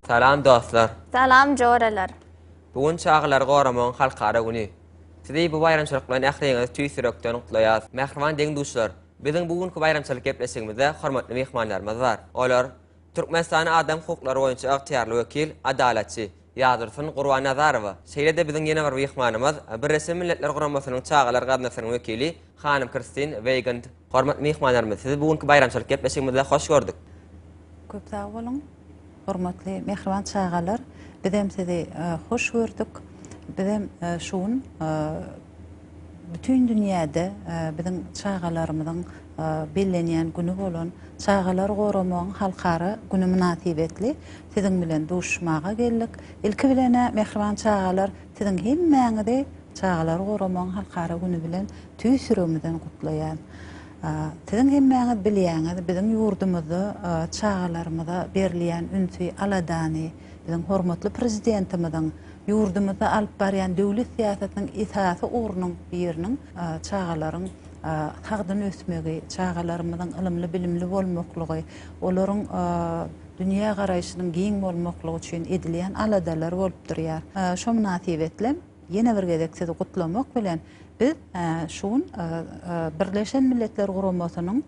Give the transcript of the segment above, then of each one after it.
Salam dostlar! Salam joralar! Bu gün Çagalary goramagyň halkara güni. Sizi bu baýramçylyk bilen ähliňizi tüýs ýürekden gutlaýas. Mähriban deň-duşlar! Biziň bu günki baýramçylyk gepleşigimizde hormatly myhmanlarymyz bar. Olar, Türkmenistanyň adam hukuklary boýunça ygtyýarly wekil, adalatçy, Ýazdursyn Gurbannazarowa, şeýle-de biziň ýene bir myhmanymyz, Birleşen Milletler Guramasynyň Çagalar gaznasynyň wekili, Hanym Kirstin Weigand. Hormatly myhmanlarymyz, sizi bu günki baýramçylyk gepleşigimizde hoş gördük. Köp sag boluň. Hormatly mähriban çagalar, bizem sizi hoş gördük. Bizem şu gün bütin dünýäde biziň çagalarymyzyň bellenýän güni bolan Çagalary goramagyň halkara güni mynasybetli siziň bilen duşuşmaga geldik. Ilki bilen-ä, mähriban çagalar, siziň hemmäňizi Çagalary goramagyň halkara güni bilen tüýs ýüregimizden gutlaýan. Siziň hemmäňiz bilýäňiz, biziň ýurdumyzda çagalarymyza berilýän ünsi, aladany biziň hormatly Prezidentimiziň ýurdumyzda alyp barýan döwlet syýasatynyň esasy ugrunyň biriniň çagalaryň sagdyn ösmegi, çagalarymyzyň ylymly-bilimli bolmaklygy, olaryň dünýä garaýşynyň giň bolmaklygy üçin edilýän aladalary bolup durýar. Şo mynasybetli. Ýene bir gezek sizi gutlamak bilen, biz şu gün Birleşen Milletler Guramasynyň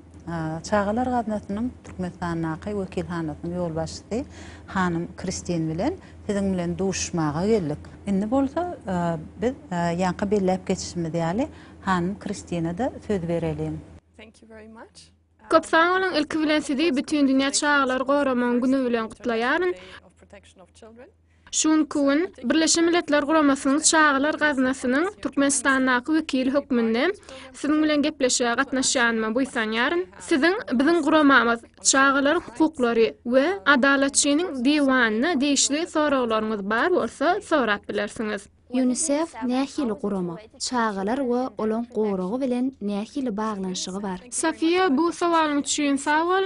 Çagalar gaznasynyň Türkmenistandaky wekilhanasynyň ýolbaşçysy hanym Kristin bilen siziň bilen duşuşmaga geldik. Indi bolsa biz ýaňky belläp geçişimiz ýaly hanym Kristina-da söz bereliň. Köp sag boluň ilki bilen sizi bütin dünýä çagalary goramagyň güni bilen gutlaýaryn. Şu günki gün Birleşen Milletler Guramasynyň Çagalar gaznasynyň Türkmenistandaky wekili hökmünde siziň bilen gepleşige gatnaşýanyma buýsanýaryn. Siziň biziň guramamyz, çagalaryň hukuklary we Adalatçynyň diwanyna degişli soraglaryňyz bar bolsa sorap bilersiňiz. Ýunisef nähili gurama? Çagalar we olaň goragy bilen nähili baglanyşygy bar? Safiýa bu sowalyň üçin sag bol.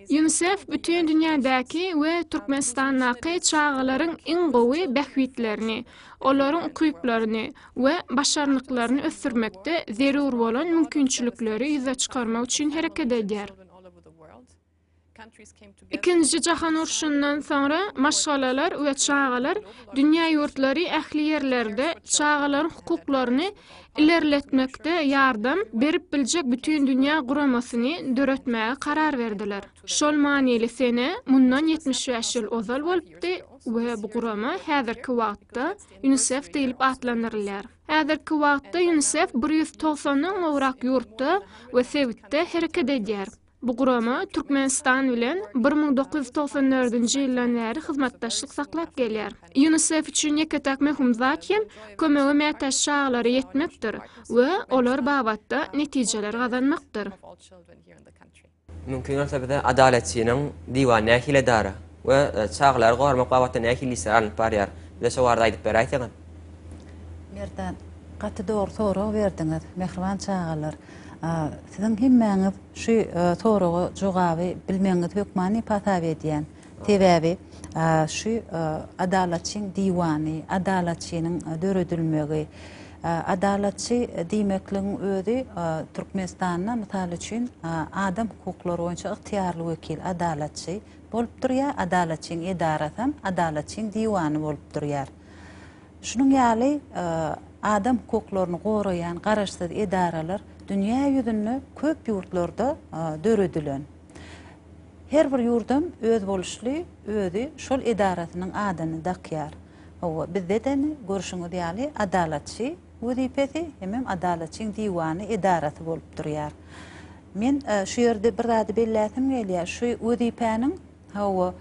Ýunisef bütin dünýädäki we Türkmenistandaky çagalaryň iň gowy bähbitlerini, olaryň ukyplaryny we başarnyklaryny ösdürmekde zerur bolan mümkinçilikleri ýüze çykarmak üçin hereket edýär. Ikinji jahan urşundan soňra maşgalalar we çagalar dünýä ýurtlary ähli ýerlerde çagalaryň hukuklaryny ilerletmekde ýardam berip biljek bütindünýä guramasyny döretmäge karar berdiler. Şol manyly sene mundan ýetmiş bäş ýyl ozal bolupdy we bu gurama häzirki wagtda UNICEF diýlip atlandyrylýar. Häzirki wagtda UNICEF bir ýüz togsandan gowrak ýurtda we sebitde hereket edýär. Bu gurama Türkmenistan bilen bir müň dokuz ýüz togsan dördünji ýyldan bäri hyzmatdaşlyk saklap gelýär. Ýunisef üçin ýeke-täk möhüm zat hem kömege mätäç çagalara ýetmekdir we olar babatda netijeler gazanmakdyr. Mümkin bolsa bize Adalatçynyň diwany nähili edara we çagalary goramak babatda nähili işler alnyp barýar? Bize şo barada aýdyp beräýseňiz. Merdan, gaty dogry sorag berdiňiz, mähriban çagalar. Siziň hemmäňiz şu soraga jogaby bilmegiňizi hökmany hasap edýän. Sebäbi şu Adalatçyň diwany, Adalatçynyň döredilmegi, Adalatçy diýmekligiň özi Türkmenistanda mysal üçin adam hukuklary boýunça ygtyýarly wekil, Adalatçy, bolup durýar, Adalatçyň edarasy hem Adalatçyň diwany bolup durýar. Şunuň ýaly adam hukuklaryny goraýan garaşsyz edaralar dünýä ýüzünde köp ýurtlarda döredilen. Her bir ýurdam özboluşly özi şol edarasynyň adyny dakýar. Hawa, bizde-de indi görşüňiz ýaly Adalatçy wezipesi hemem Adalatçyň diwany edarasy bolup durýar. Men şu ýerde bir zady belläsim gelýär, şu wezipäniň, Hawa,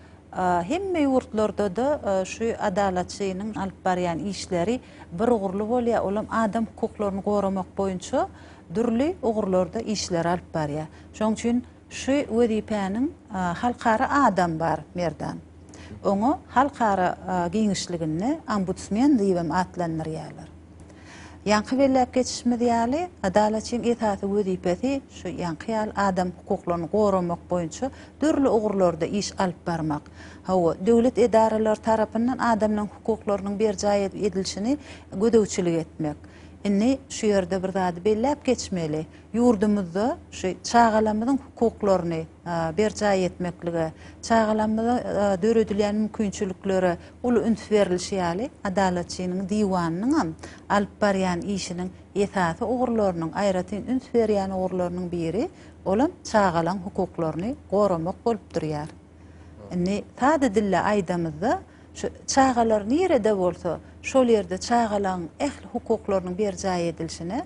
hemme ýurtlarda-da şu adalatçynyň alyp barýan işleri bir ugurly bolýar, olam adam hukuklaryny goramak boýunça dürli ugurlarda işleri alyp barýar. Şonuň üçin şu wezipäniň halkara adam bar, Merdan. Oňa halkara giňişliginde ombudsmen diýibem atlandyrýarlar. Ýaňky belläp geçişimiz ýaly, Adalatçyň esasy wezipesi şu ýaňky ýaly adam hukuklaryny goramak boýunça dürli ugurlarda iş alyp barmak. Hawa, döwlet edaralary tarapyndan adamlaryň hukuklarynyň berjaý edilişini gözegçilik etmek. Indi şu ýerde bir zady belläp geçmeli. Ýurdumyzda şu çagalarymyzyň hukuklaryny berjaý etmeklige, çagalarymyza döredilýän mümkinçiliklere Uly üns berlişi ýaly, Adalatçynyň diwanynyňam alyp barýan işiniň esasy ugurlarynyň, aýratyn üns berýän ugurlarynyň biri, olam çagalaň hukuklaryny goramak bolup durýar. Indi sada dilde aýdamyzda, şu çagalar nirede bolsa, şol ýerde çagalaň ähli hukuklarynyň berjaý edilişine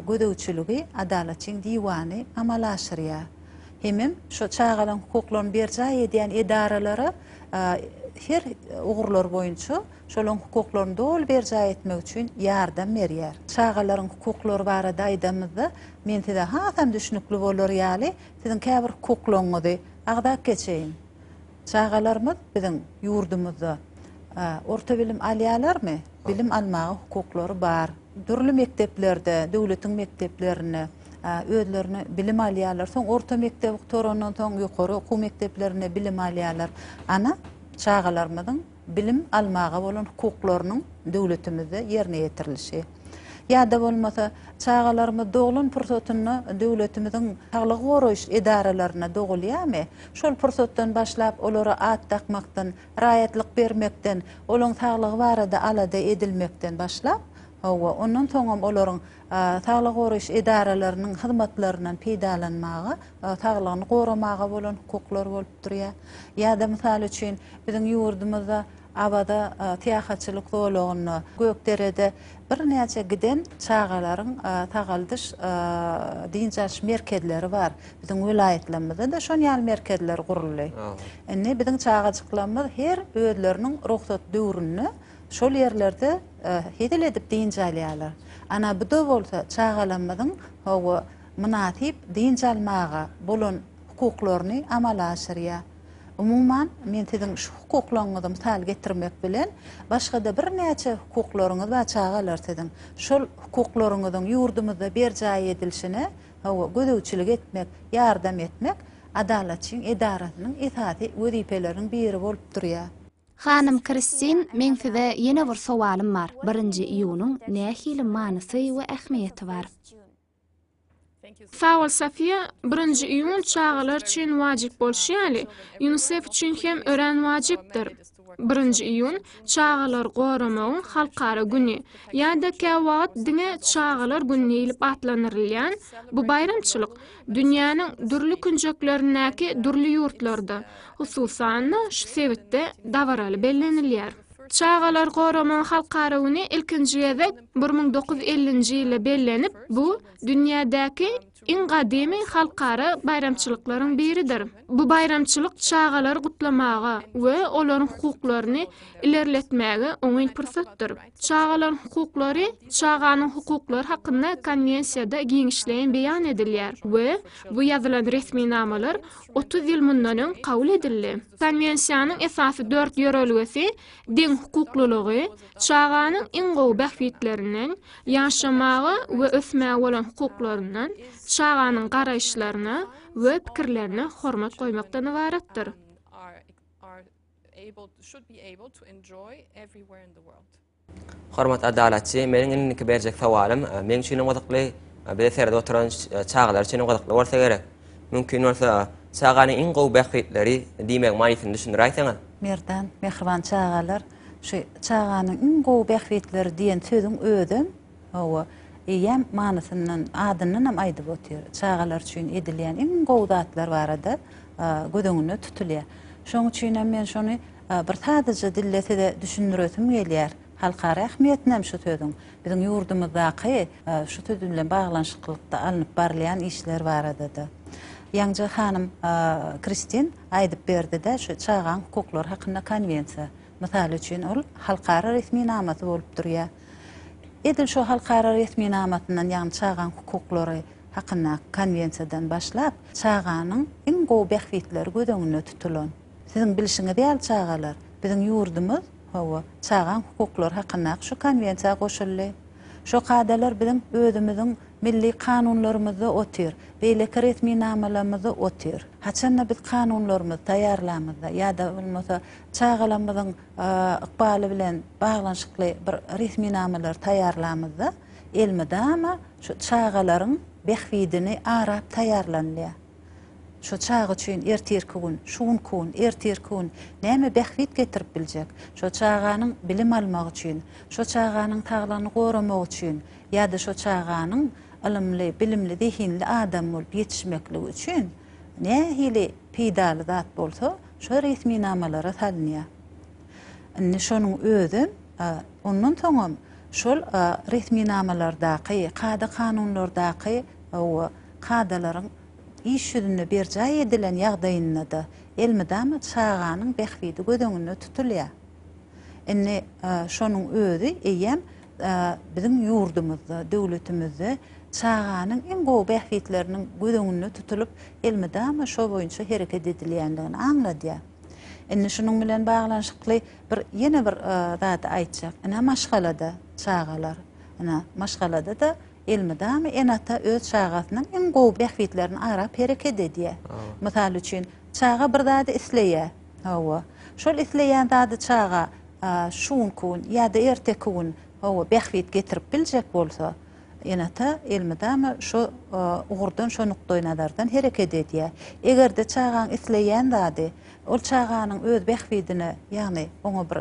gözegçiligi Adalatçyň diwany amala aşyrýar. hemem şo çagalaryň hukuklaryny berjaý edýän edaralara her ugurlar boýunça şolaryň hukuklaryny doly berjaý etmek üçin ýardam berýär. Çagalaryň hukuklary barada aýdamyzda, men size hasam düşnükli bolar ýaly, siziň käbir hukuklaryňyzy agzap geçeýin. Çagalarymyz biziň ýurdumyzda orta bilim alýalarmy? Bilim almaga hukuklary bar. Dürli mekdeplerde, döwletiň mekdeplerinde özlerini bilim alýarlar. Soň orta mekdebi gutarandan soň ýokary okuw mekdeplerinde bilim alýarlar. Ana, çagalarymyzyň bilim almaga bolan hukuklarynyň döwletimizde ýerine ýetirilişi ýa-da bolmasa çagalarymyz doglan pursatynda döwletimiziň saglygy goraýyş edaralarynda dogulýarmy, şol pursatdan başlap olara at dakmakdan, raýatlyk bermekden, olaryň saglygy barada alada edilmekden başlap, hawa, ondan soňam olaryň saglygy goraýyş edaralarynyň hyzmatlaryndan peýdalanmaga, saglygyny goramaga bolan hukuklary bolup bolup durýar. Ýa-da, mysal üçin, biziň ýurdumyzda Awaza syýahatçylyk zolagynda, Gökderede birnäçe giden çagalaryň sagaldyş, dynç alyş merkezleri bar. Biziň welaýatlarymyzda-da şon ýaly merkezler guruldy. Indi biziň çagajyklarymyz her özleriniň rugsat döwründe şol ýerlerde hezil edip dynç alýarlar. Ana, bu-da bolsa çagalarymyzyň, hawa, mynasyp dynç almaga bolan hukuklaryny amala aşyrýar. Umuman, men siziň şu hukuklaryňyzy mysal getirmek bilen, başga-da birnäçe hukuklaryňyz bar çagalar siziň. Şol hukuklaryňyzyň ýurdumyzda berjaý edilişine, hawa, gözegçilik etmek, ýardam etmek Adalatçyň edarasynyň esasy wezipeleriniň biri bolup durýar. Hanym Kristin, meň size ýene bir sowalym bar, birinji iýunyň nähili manysy we ähmiýeti bar? Sag bol Safiýa, birinji iýun çagalar üçin wajyp bolşy ýaly, UNICEF üçin hem örän wajypdyr. Birinji iýun, çagalary goramagyň halkara güni, ýa-da käwagt diňe çagalar güni diýlip atlandyrylýan bu baýramçylyk dünýäniň dürli künjeklerindäki dürli ýurtlarda, hususan-da, şu sebitde dabaraly bellenilýär. Çagalary goramagyň halkara güni ilkinji gezek bir müň dokuz ýüz ellinji ýylda bellenip, bu dünýädäki iň gadymy halkara baýramçylyklaryň biridir. Bu baýramçylyk çagalary gutlamaga we olaryň hukuklaryny ilerletmäge oňyn pursatdyr. Çagalaryň hukuklary Çaganyň hukuklary hakynda Konwensiýada giňişleýin beýan edilýär we bu ýazylan resminamalar otuz ýyl mundan öň kabul edildi. Konwensiýanyň esasy dört ýörelgesi deňhukuklylygy, çaganyň iň gowy bähbitlerinden, ýaşamaga we ösmäge bolan hukuklaryndan, çaganyň garaýyşlaryna we pikirlerine hormat goýmakdan ybaratdyr. Hormat Adalatçy, meniň indiki berjek sowalym meň üçinem gyzykly, bize seredip oturan çagalar üçinem gyzykly bolsa gerek. Mümkin bolsa, çaganyň iň gowy bähbitleri diýmegiň manysyny düşündiräýseňiz? Merdan, Mähriban çagalar, şu çaganyň iň gowy bähbitleri diýen sözüň özem, Hawa, eýýäm manysyndan, adyndan hem aýdyp otyr. Çagalar üçin edilýän iň gowy zatlar barada göz öňünde tutulýar. Şoň üçin hem men şony bir sadyja dilde size düşündiresim gelýär. Halkara ähmiýetini hem şu sözüň, biziň ýurdumyzdaky şu söz bilen baglanyşyklykda alnyp barylýan işler barada-da. Ýaňja hanym Kristin aýdyp berdi-de, şu çagaň hukuklary hakynda konwensiýa. Mysal üçin, ol halkara resminamasy bolup durýar. Edil şu halkara resminamasyndan, ýagny çagaň hukuklary hakyndaky konwensiýadan başlap, çaganyň iň gowy bähbitleri göz öňünde tutulan. Siziň bilşiňiz ýaly çagalar, biziň ýurdumyz, hawa, çagaň hukuklary hakyndaky şu konwensiýa goşuldy. Şo kadalar biziň özümiziň milli kanunlarymyzda otyr, beýleki resminamalarymyzda otyr. Haçan-da biz kanunlarymyzy taýýarlamyzda ýa-da bolmasa çagalarymyzyň, ykbaly bilen baglanyşykly bir resminamalary taýýarlamyzda elmydama şu çagalaryň bähbidini arap taýýarlanylýar. Şu çaga üçin ertirki gün, şu günki gün, ertirki gün näme bähbit getirip biljek? Şo çaganyň bilim almagy üçin, şo çaganyň saglygyny goramagy üçin ýa-da şo çaganyň ylymly, bilimli, zehinli adam bolup ýetişmekligi üçin nähili peýdaly zat bolsa, şo resminamalara salynýar. Indi şonuň özem, ondan soňam şol resminamalardaky, kada-kanunlardaky kadalaryň iş ýüzünde berjaý edilen ýagdaýynda-da elmydama çaganyň bähbidi göz öňünde tutulýar. Indi şonuň özi eýýäm biziň ýurdumyzda, döwletimizde çaganyň iň gowy bähbitleriniň göz öňünde tutulyp, elmydama şo boýunça hereket edilýändigini aňladýar. Indi şunuň bilen baglanyşykly bir ýene bir zady aýtjak. Ine, maşgalada çagalar, ine, maşgalada-da elmydama ene-ata öz çagasynyň iň gowy bähbitlerini arap hereket edýär. Mysal üçin, çaga bir zady isleýär. Hawa. Şol isleýän zady çaga şu günki gün ýa-da erteki gün, hawa, bähbit getirip biljek bolsa, ene-ata elmydama şu ugurdan, şu nukdaýnazardan hereket edýär. Eger-de çagaň isleýän zady ol çaganyň öz bähbidine, ýagny oňa bir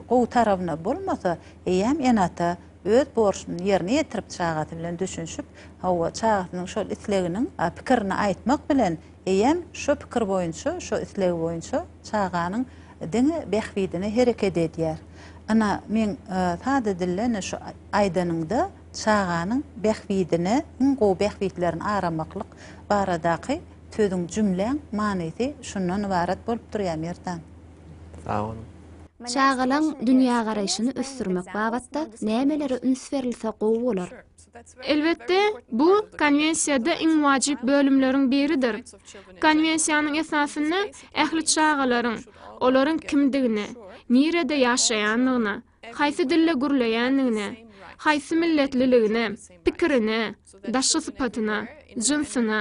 gowy tarabyna bolmasa, eýýäm ene-ata öz borçuny ýerine ýetirip, çagasy bilen düşünişip, hawa, çagasynyň şol isleginiň pikirini aýtmak bilen, eýýäm şo pikir boýunça, şo isleg boýunça çaganyň diňe bähbidine hereket edýär. Ynha, meň sada dilde ine şu aýdanyňda çaganyň bähbidine, iň gowy bähbitlerini aramaklyk baradaky sözüň, jümläň manysy şundan ybarat bolup durýar, Merdan. Sag boluň. Çagalaň dünýägaraýşyny ösdürmek babatda nämelere üns berilse gowy bolar? Elbetde, bu Konwensiýada iň wajyp bölümleriň biridir. Konwensiýanyň esasynda ähli çagalaryň, olaryň kimdigine, nirede ýaşaýandygyna, haýsy dilde gürleýändigine, haýsy milletliligine, pikirine, daşky sypatyna, jynsyna,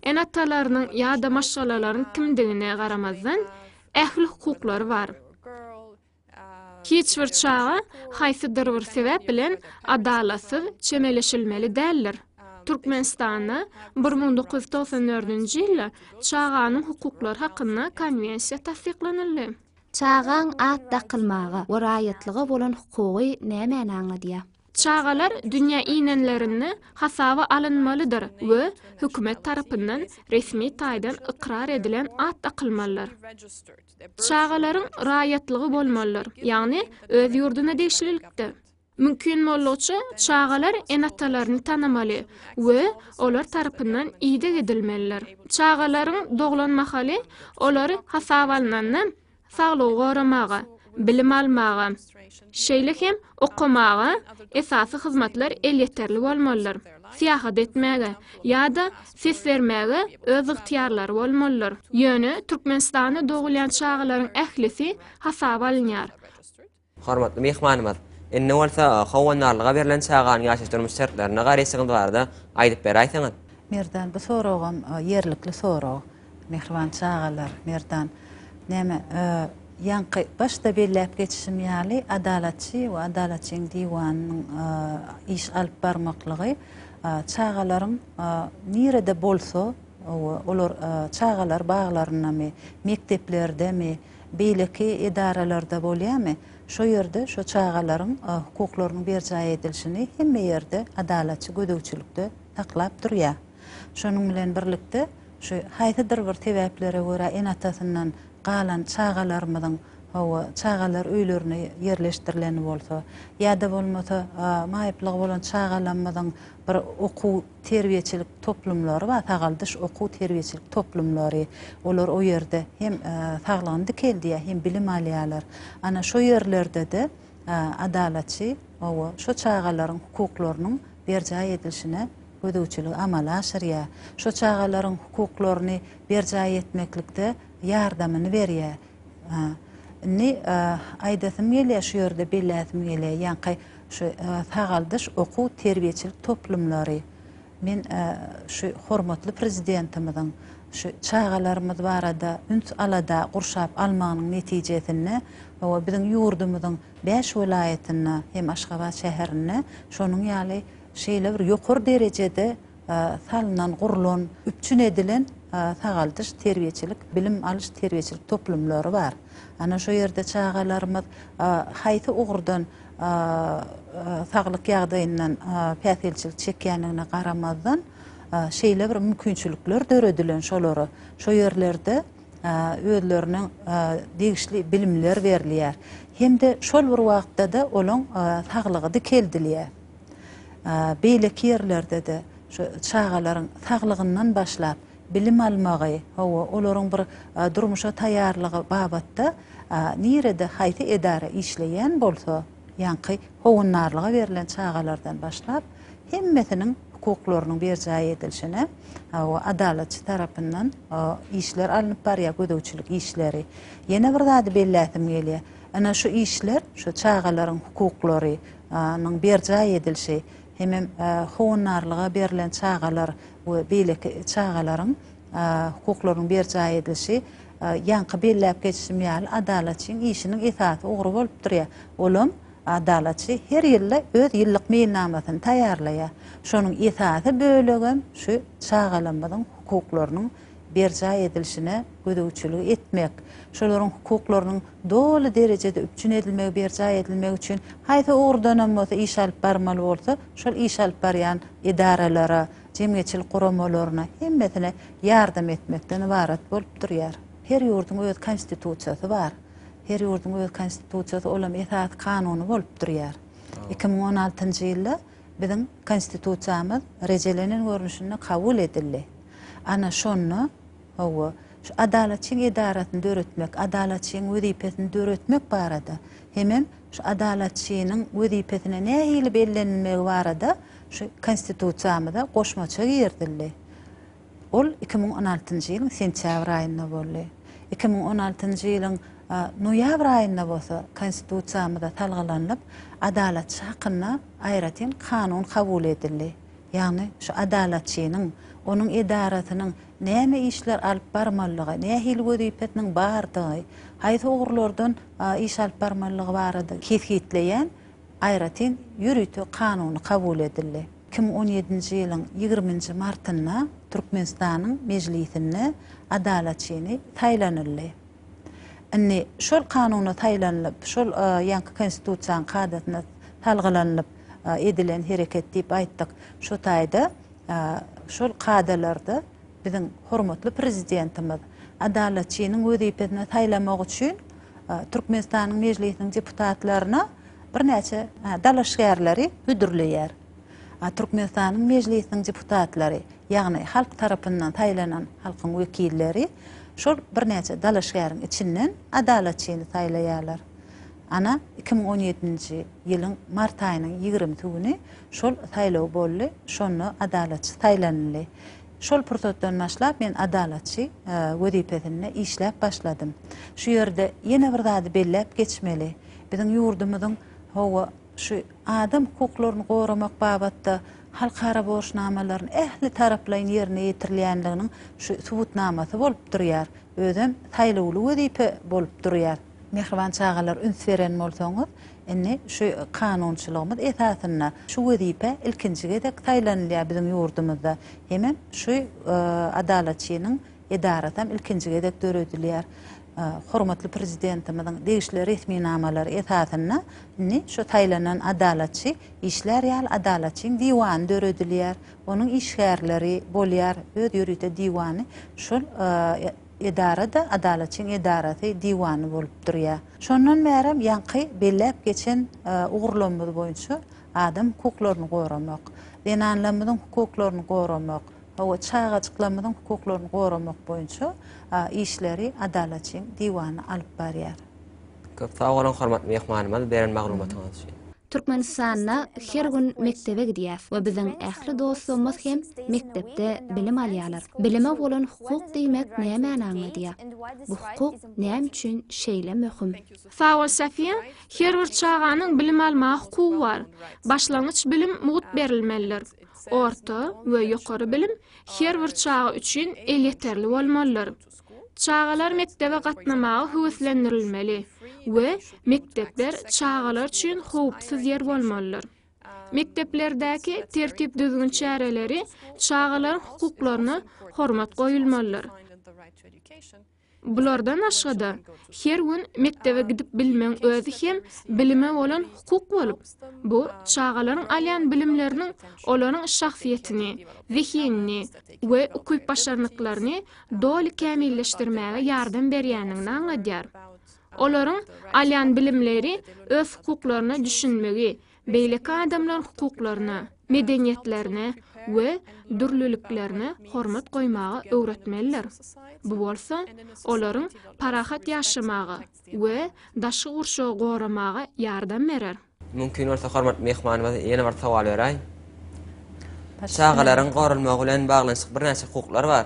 ene-atalarynyň ýa-da maşgalalaryň kimdigine garamazdan, ähli hukuklary bar. Hiç bir çaga haýsydyr bir sebäp bilen adalatsyz çemeleşilmeli däldir. Türkmenistanda bir müň dokuz ýüz togsan dördünji ýylda Çaganyň hukuklary hakynda Konwensiýa tassyklanyldy. Çagaň at dakylmaga we raýatlyga bolan hukugy nämäni aňladýar? Çagalar dünýä inenlerinde hasaba alynmalydyr we hökümet tarapyndan resmi taýdan ykrar edilen at dakylmalydyr. Çagalaryň raýatlygy bolmalydyr, ýagny öz ýurduna degişlilikde. Mümkin boldugyça, çagalar ene-atalaryny tanamaly we olar tarapyndan ideg edilmelidir. Çagalaryň doglan mahaly olary hasaba alnanda saglygy goramaga, bilim almaga, Şeýle hem okamaga esasy hyzmatlar elýeterli bolmalydyr, syýahat etmäge ýa-da ses bermäge öz ygtyýarlary bolmalydyr. Ýöne Türkmenistanda dogulýan çagalaryň ählisi hasaba alynýar. Hormatly myhmanymyz indi bolsa howandarlyga berlen çaganyň ýaşaýyş-durmuş şertlerine garaýşyňyz barada aýdyp beräýseňiz? Merdan, bu soragam ýerlikli sorag. Mähriban çagalar, Merdan. Näme, ýaňky başda belläp geçişim ýaly, Adalatçy we Adalatçyň diwanynyň iş alyp barmaklygy çagalaryň nirede bolsa we olar çagalar baglaryndamy, mekdeplerdemi, beýleki edaralarda bolýamy, şo ýerde şo çagalaryň hukuklarynyň berjaý edilişini hemme ýerde Adalatçy gözegçilikde saklap durýar. Şonuň bilen birlikde, şu haýsydyr bir sebäplere görä ene-atasyndan galan çagalarymyzyň, hawa, çagalar öýlerine ýerleşdirileni bolsa, ýa-da bolmasa, maýyplygy bolan çagalamyzyň bir okuw-terbiýeçilik toplumlary bar, sagaldyş okuw-terbiýeçilik toplumlary. Olar o ýerde hem saglygyny dikeldýär, hem bilim alýarlar. Ana, şo ýerlerde-de adalatçy, hawa, şo çagalaryň hukuklarynyň berjaý edilişine gözegçiligi amala aşyrýar, şu çagalaryň hukuklaryny berjaý etmeklikde ýardamyny berýär. Indi aýdasym gelýär, şu ýerde belläsim gelýär, ýaňky şu sagaldyş okuw-terbiýeçilik toplumlary, men şu hormatly Prezidentimiziň şu çagalarymyz barada üns-alada gurşap almagynyň netijesinde, hawa, biziň ýurdumyzyň bäş welaýatynda hem Aşgabat şäherinde şonuň ýaly şeýle bir ýokary derejede salnan, gurlan, üpjün edilen sagaldyş, terbiýeçilik, bilim alyş, terbiýeçilik toplumlary bar. Ana şo ýerde çagalarymyz haýsy ugurdan saglyk ýagdaýyndan päsgelçilik çekýändigine garamazdan, şeýle bir mümkinçilikler döredilen şolara, şo ýerlerde özleriniň degişli bilimler berilýär hem-de şol bir wagtda-da olaň saglygy dikeldilýär. beýleki ýerlerde-de şu çagalaryň saglygyndan başlap, bilim almagy, hawa, olaryň bir durmuşa taýýarlygy babatda nirede, haýsy edara işleýän bolsa, ýaňky howandarlyga berlen çagalardan başlap, hemmesiniň hukuklarynyň berjaý edilişine, hawa, adalatçy tarapyndan işler alnyp barýar, gözegçilik işleri. Ýene bir zady belläsim gelýär. Ana, şu işler, şu çagalaryň hukuklary, nyň berjaý edilişi hemem howandarlyga berlen çagalar we beýleki çagalaryň hukuklarynyň berjaý edilişi ýaňky belläp geçişim ýaly Adalatçyň işiniň esasy ugry bolup durýar. Olam Adalatçy her ýylda öz ýyllyk meýilnamasyny taýýarlaýar. Şonuň esasy bölegem şu çagalarymyzyň hukuklarynyň berjaý edilişine gözegçilik etmek, şolaryň hukuklarynyň doly derejede üpjün edilmegi, berjaý edilmegi üçin haýsy ugurdanam bolsa iş alyp barmaly bolsa, şol iş alyp barýan edaralara, jemgyýetçilik guramalaryna hemmesine ýardam etmekden ybarat bolup durýar. Her ýurduň öz Konstitusiýasy bar. Her ýurduň öz Konstitusiýasy, olam esasy kanuny bolup durýar. Iki müň on altynjy ýylda Biziň Konstitusiýamyz rejelenen görnüşinde kabul edildi. Ana, şonda, hawa, şu Adalatçyň edarasyny döretmek, Adalatçyň wezipesini döretmek barada hemem şu Adalatçynyň wezipesine nähili bellenilmegi barada şu Konstitusiýamyza goşmaça girizildi. Ol iki müň on altynjy ýylyň sentýabr aýynda boldy. Iki müň on altynjy ýylyň noýabr aýynda bolsa Konstitusiýamyza salgylanylyp, Adalatçy hakynda aýratyn kanun kabul edildi. Ýagny şu Adalatçynyň, onuň edarasynyň näme işler alyp barmalydygy, nähili wezipesiniň bardygy, haýsy ugurlardan iş alyp barmalydygy barada kesgitleýän aýratyn ýörite kanuny kabul edildi. iki müň on ýedinji ýylyň ýigriminji martynda Türkmenistanyň Mejlisinde Adalaçyny saýlanyldy. Indi şol kanuna saýlanylyp, şol ýaňky Konstitusiýanyň kadasyna salgylanylyp edilen hereket diýip aýtdyk. Şo taýda şol kadalarda, Biziň hormatly Prezidentimiz Adalatçynyň wezipesine saýlamak üçin Türkmenistanyň Mejlisiniň deputatlaryna birnäçe dalaşgärleri hödürleýär. Türkmenistanyň Mejlisiniň deputatlary, ýagny halk tarapyndan saýlanan halkyň wekilleri şol birnäçe dalaşgäriň içinden Adalatçyny saýlaýarlar. Ana, iki müň on ýedinji ýylyň mart aýynyň ýigrimisi güni şol saýlaw boldy, şonda Adalatçy saýlanyldy. Şol pursatdan başlap men adalatçy wezipesinde işläp başladym. Şu ýerde ýene bir zady belläp geçmeli. Biziň ýurdumyzyň hawa, şu adam hukuklaryny goramak babatda halkara borçnamalaryny ähli taraplaýyn ýerine ýetirilýänliginiň şu subutnamasy bolup durýar. Özem saýlawly wezipe bolup durýar. Mähriban çagalar üns beren bolsaňyz, indi şu kanunçylygymyz esasynda şu wezipä ilkinji gezek saýlanylýar biziň ýurdumyzda. Hemem şu Adalatçynyň edarasy hem ilkinji gezek döredilýär. Hormatly Prezidentimiziň degişli resminamalary esasynda indi şu saýlanan Adalatçy işlär ýaly Adalatçyň diwany döredilýär. Onuň işgärleri bolýar, öz ýörite diwany şol edara-da Adalatçyň edarasy diwany bolup durýar. Şondan bärem ýaňky belläp geçen ugurlamyz boýunça adam hukuklaryny goramak, zenanlarymyzyň hukuklaryny goramak, hawa, çagajyklarymyzyň hukuklaryny goramak boýunça işleri Adalatçyň diwany alyp barýar. Köp sag boluň hormatly myhmanymyz beren maglumatyňyz üçin. Türkmenistanda her gün mekdebe gidýäs we biziň ähli dostlarymyz hem mekdepde bilim alýarlar. Bilime bolan hukuk diýmek nämäni aňladýar? Bu hukuk näme üçin şeýle möhüm? Sag bol Safiýa, her bir çaganyň bilim almaga hukugy bar. Başlangyç bilim mugt berilmelidir. Orta we ýokary bilim her bir çaga üçin elýeterli bolmalydyr. Çagalar mekdebe gatnamaga höweslendirilmeli we mekdepler çagalar üçin howpsuz ýer bolmalydyr. Mekdeplerdäki tertip-düzgün çäreleri çagalaryň hukuklaryna hormat goýulmalydyr. Bulardan başga-da, her gün mekdebe gidip bilmegiň özi hem bilime bolan hukuk bolup, bu çagalaryň alýan bilimleriniň olaryň şahsyýetini, zehinini we ukyp-başarnyklaryny doly kämilleşdirmäge ýardam berýändigini aňladýar. Olaryň alýan bilimleri öz hukuklaryna düşünmegi, beýleki adamlaryň hukuklaryna, medeniýetlerine we dürlüliklerine hormat goýmagy öwretmelidir. Bu bolsa olaryň parahat ýaşamaga, we daşky gurşawy goramaga ýardam berer. Mümkin bolsa hormatly myhmanymyz ýene bir sowal beräý. Çagalaryň goralmagy bilen baglanyşykly birnäçe hukuklar bar.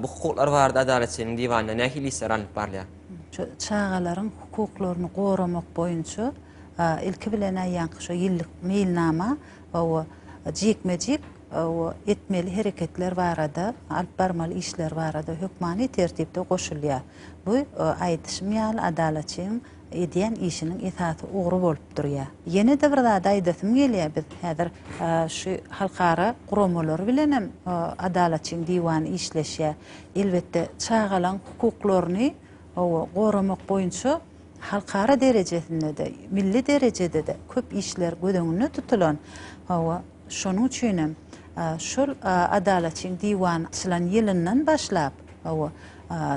Bu hukuklar barada Adalatçynyň diwanynda nähili işler alnyp barylýar? Şu çagalaryň hukuklaryny goramak boýunça ilki bilen aýýanky şu ýyllyk meýilnama we jikme-jik etmeli hereketler barada, alyp barmaly işler barada hökmany tertipde goşulýar. Bu, aýdyşym ýaly, Adalatçyň edýän işiniň esasy ugry bolup durýar. Ýene-de bir zady aýdasym gelýär, biz häzir şu halkara guramalary bilenem Adalatçyň diwany işleşýär. Elbetde, çagalaryň hukuklaryny goramak boýunça halkara derejesinde-de, milli derejede-de köp işler göz öňünde tutulan. Hawa. Şonuň üçinem, şol Adalatçyň diwany açylan ýylyndan başlap,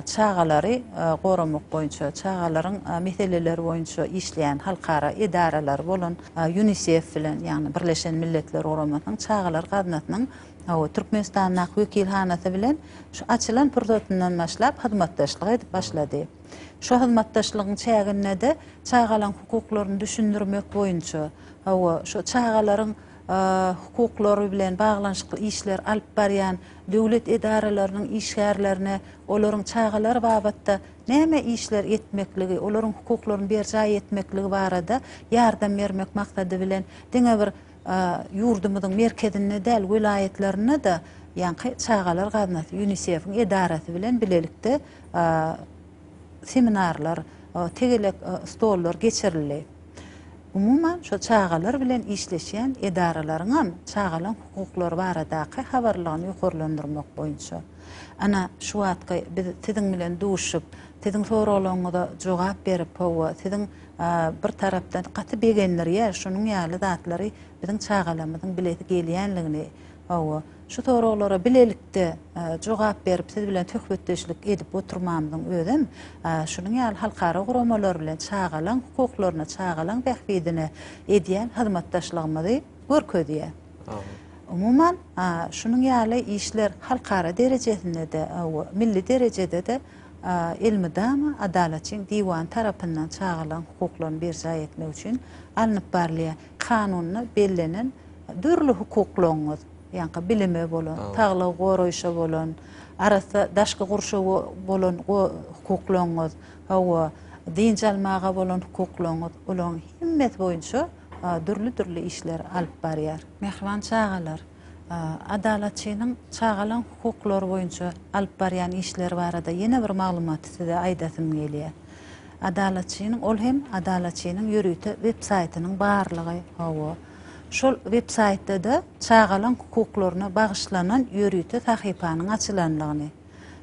çagalary goramak boýunça, çagalaryň meseleleri boýunça işleýän halkara edaralary bolan Ýunisef bilen, ýagny Birleşen Milletler Guramasynyň Çagalar gaznasynyň Türkmenistandaky wekilhanasy bilen şu açylan pursatyndan başlap hyzmatdaşlyk edip başlady. Şu hyzmatdaşlygyň çäginde-de çagalaryň hukuklaryny düşündirmek boýunça, Hawa, şu çagalaryň hukuklary bilen baglanyşykly işleri alyp barýan döwlet edaralarynyň işgärlerine olaryň çagalar babatda näme işler etmekligi, olaryň hukuklaryny berjaý etmekligi barada ýardam bermek maksady bilen diňe bir ýurdumyzyň merkezinde däl, welaýatlarynda-da ýaňky Çagalar gaznasy, Ýunisefiň edarasy bilen bilelikde seminarlar, tegelek stollar geçirildi. Umuman, şol çagalar bilen işleşýän edaralaryňam çagalaryň hukuklary baradaky habarlylygyny ýokarlandyrmak boýunça, ana, şu wagtky biz siziň bilen duşup, siziň soraglaryňyza jogap berip, hawa, siziň bir tarapdan gaty begendirýär, şunuň ýaly zatlary biziň çagalarymyzyň bilesi gelýänligini, hawa, Şu soraglara bilelikde jogap berip, siz bilen söhbetdeşlik edip oturmamyzyň özem şunuň ýaly halkara guramalar bilen çagalaň hukuklaryna, çagalaň bähbidine edýän hyzmatdaşlygymyzy görkezýär. Umuman, şunuň ýaly işler halkara derejesinde-de, milli derejede-de elmydama Adalatçyň diwany tarapyndan çagalaň hukuklaryny berjaý etmek üçin alnyp barylýar. Kanunda bellenen dürli hukuklaryňyz, ýaňky bilime bolan, saglygy goraýşa bolan, arassa daşky gurşawa bolan hukuklaryňyz, hawa, dynç almaga bolan hukuklaryňyz, olaryň hemmesi boýunça dürli-dürli işleri alyp barýar. Mähriban çagalar! Adalatçynyň çagalaň hukuklary boýunça alyp barýan işleri barada ýene bir maglumaty size aýdasym gelýär. Adalatçynyň, ol hem Adalatçynyň ýörite websaýtynyň barlygy, hawa, şol websaýtda-da çagalaň hukuklaryna bagyşlanan ýörite sahypanyň açylanlygyny,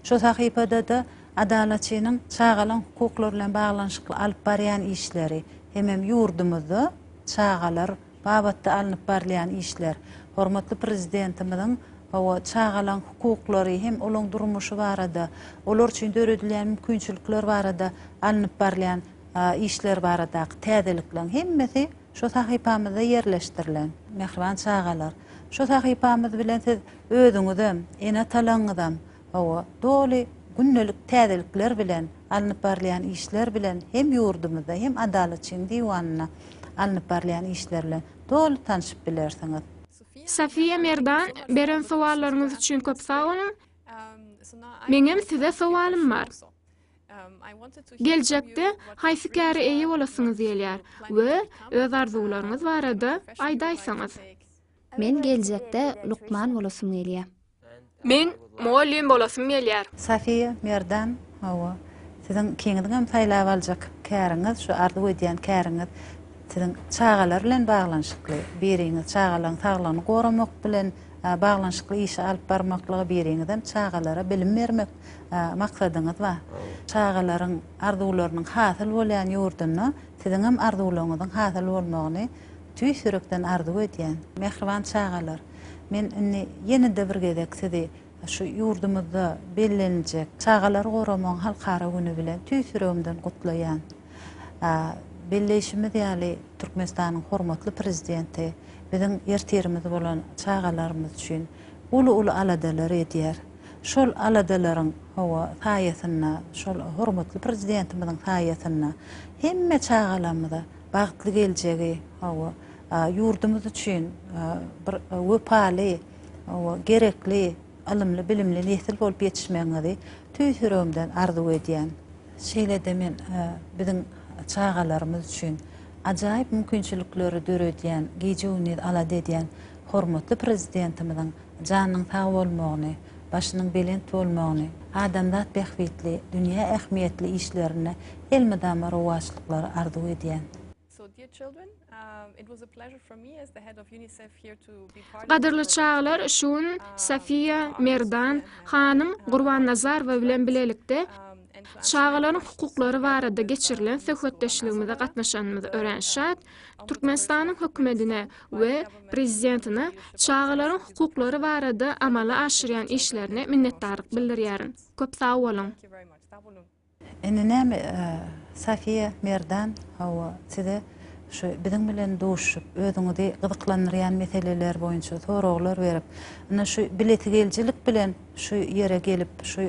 şo sahypada-da Adalatçynyň çagalaň hukuklary bilen baglanyşykly alyp barýan işleri hemem ýurdumyzda çagalar, babatda alnyp barylýan işler, hormatly Prezidentimiziň hawa, çagalaryň hukuklary hem olaryň durmuşy barada, olar üçin döredilýän mümkinçilikler barada alnyp barylýan işler baradaky täzelikleriň hemmesi şu sahypamyzda ýerleşdirilen. Mähriban çagalar, şu sahypamyz bilen siz özüňizem, ene-atalaryňyzam, Hawa, doly gündelik täzelikler bilen alnyp barylýan işler bilen hem ýurdumyzda, hem Adalatçyň diwanynda alnyp barylýan işler bilen doly tanşyp bilersiňiz. Safiýa Merdan, beren sowallaryňyz üçin köp sag boluň. Meňem size sowalym bar. Geljekde haýsy käre eýe bolasyňyz gelýär we öz arzuwlaryňyz barada aýdaýsaňyz? Men geljekde lukman bolasym gelýär. Men mugallym bolasym gelýär. Safiýa Merdan Hawa, siziň ikiňiziňem saýlap aljak käriňiz, şu arzuw edýän käriňiz siziň çagalar bilen baglanyşykly. Biriňiz çagalaryň saglygyny goramak bilen baglanyşykly işi alyp barmaklygy, biriňizem çagalara bilim bermek maksadyňyz bar. Çagalaryň arzuwlarynyň hasyl bolýan ýurdunda siziňem arzuwlaryňyzyň hasyl bolmagyny Tüýs ýürekden arzuw edýän. Mähriban çagalar, men indi ýene-de bir gezek sizi şu ýurdumyzda bellenijek Çagalary goramagyň halkara güni bilen tüýs ýüregimden gutlaýan. Belleýşimiz ýaly, Türkmenistanyň hormatly Prezidenti biziň ertirimiz bolan çagalarymyz üçin uly-uly aladalary edýär. Şol aladalaryň, hawa, saýasynda, şol hormatly Prezidentimiziň saýasynda hemme çagalarymyza, bagtly geljegi, hawa, ýurdumyz üçin bir wepaly, hawa, gerekli ylymly-bilimli nesil bolup ýetişmegiňizi tüýs ýüregimden arzuw edýän. Şeýle-de men biziň çagalarymyz üçin ajaýyp mümkinçilikleri döredýän, gije-gündiz alada edýän hormatly Prezidentimiziň, janynyň sag bolmagyny, başynyň belent bolmagyny, adamzat bähbitli, dünýä ähmiýetli işlerinde elmydama rowaçlyklary arzuw edýän. Gadyrly çagalar, şu gün Safiýa, Merdan, hanym Gurbannazarowa bilen bilelikde çagalaryň hukuklary barada geçirilen söhbetdeşligimize gatnaşanymyza örän şat. Türkmenistanyň Hökümetine we Prezidentine çagalaryň hukuklary barada amala aşyrýan işlerine minnetdarlyk bildirýärin. Köp sag boluň! Indi näme Safiýa Merdan hawa size şu biziň bilen duşup özüňizi gyzyklandyrýan meseleler boýunça soraglar berip indi şu bilesigelijilik bilen Şu ýere gelip, şu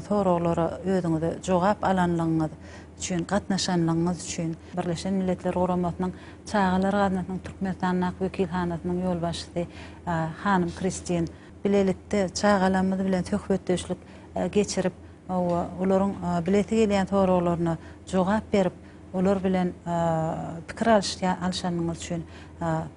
soraglara özüňize jogap alanlygyňyz üçin, gatnaşanlygyňyz üçin. Birleşen Milletler Guramasynyň Çagalar gaznasynyň Türkmenistandaky wekilhanasynyň ýolbaşçysy hanym Kristin. Bilelikde çagalarymyz bilen söhbetdeşlik geçirip we olaryň bilesi gelýän soraglaryna jogap berip, olar bilen pikir alyşanyňyz üçin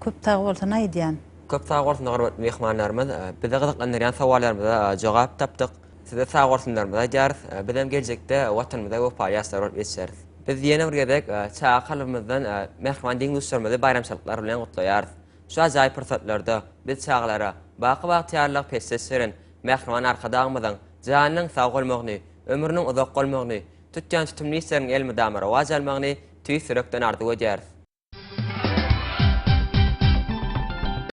köp sagbolsun aýdýan. Köp sag bolsun hormatly myhmanlarymyz. Bizi gyzyklandyrýan sowallarymyza jogap tapdyk. Size sag bolsunlarymyzy aýdýarys. Bizem geljekde Watanymyza wepaly ýaşlar bolup ýetişeris. Biz ýene bir gezek çaga kalbymyzdan mähriban deň-duşlarymyzy baýramçylyklar bilen gutlaýarys. Şu ajaýyp pursatlarda biz çagalara baky bagtyýarlygy peşgeş beren mähriban Arkadagymyzyň janynyň sag bolmagyny, ömrüniň uzak bolmagyny, tutýan tutumly işleriniň elmydama rowaç almagyny tüýs ýürekden arzuw edýäris.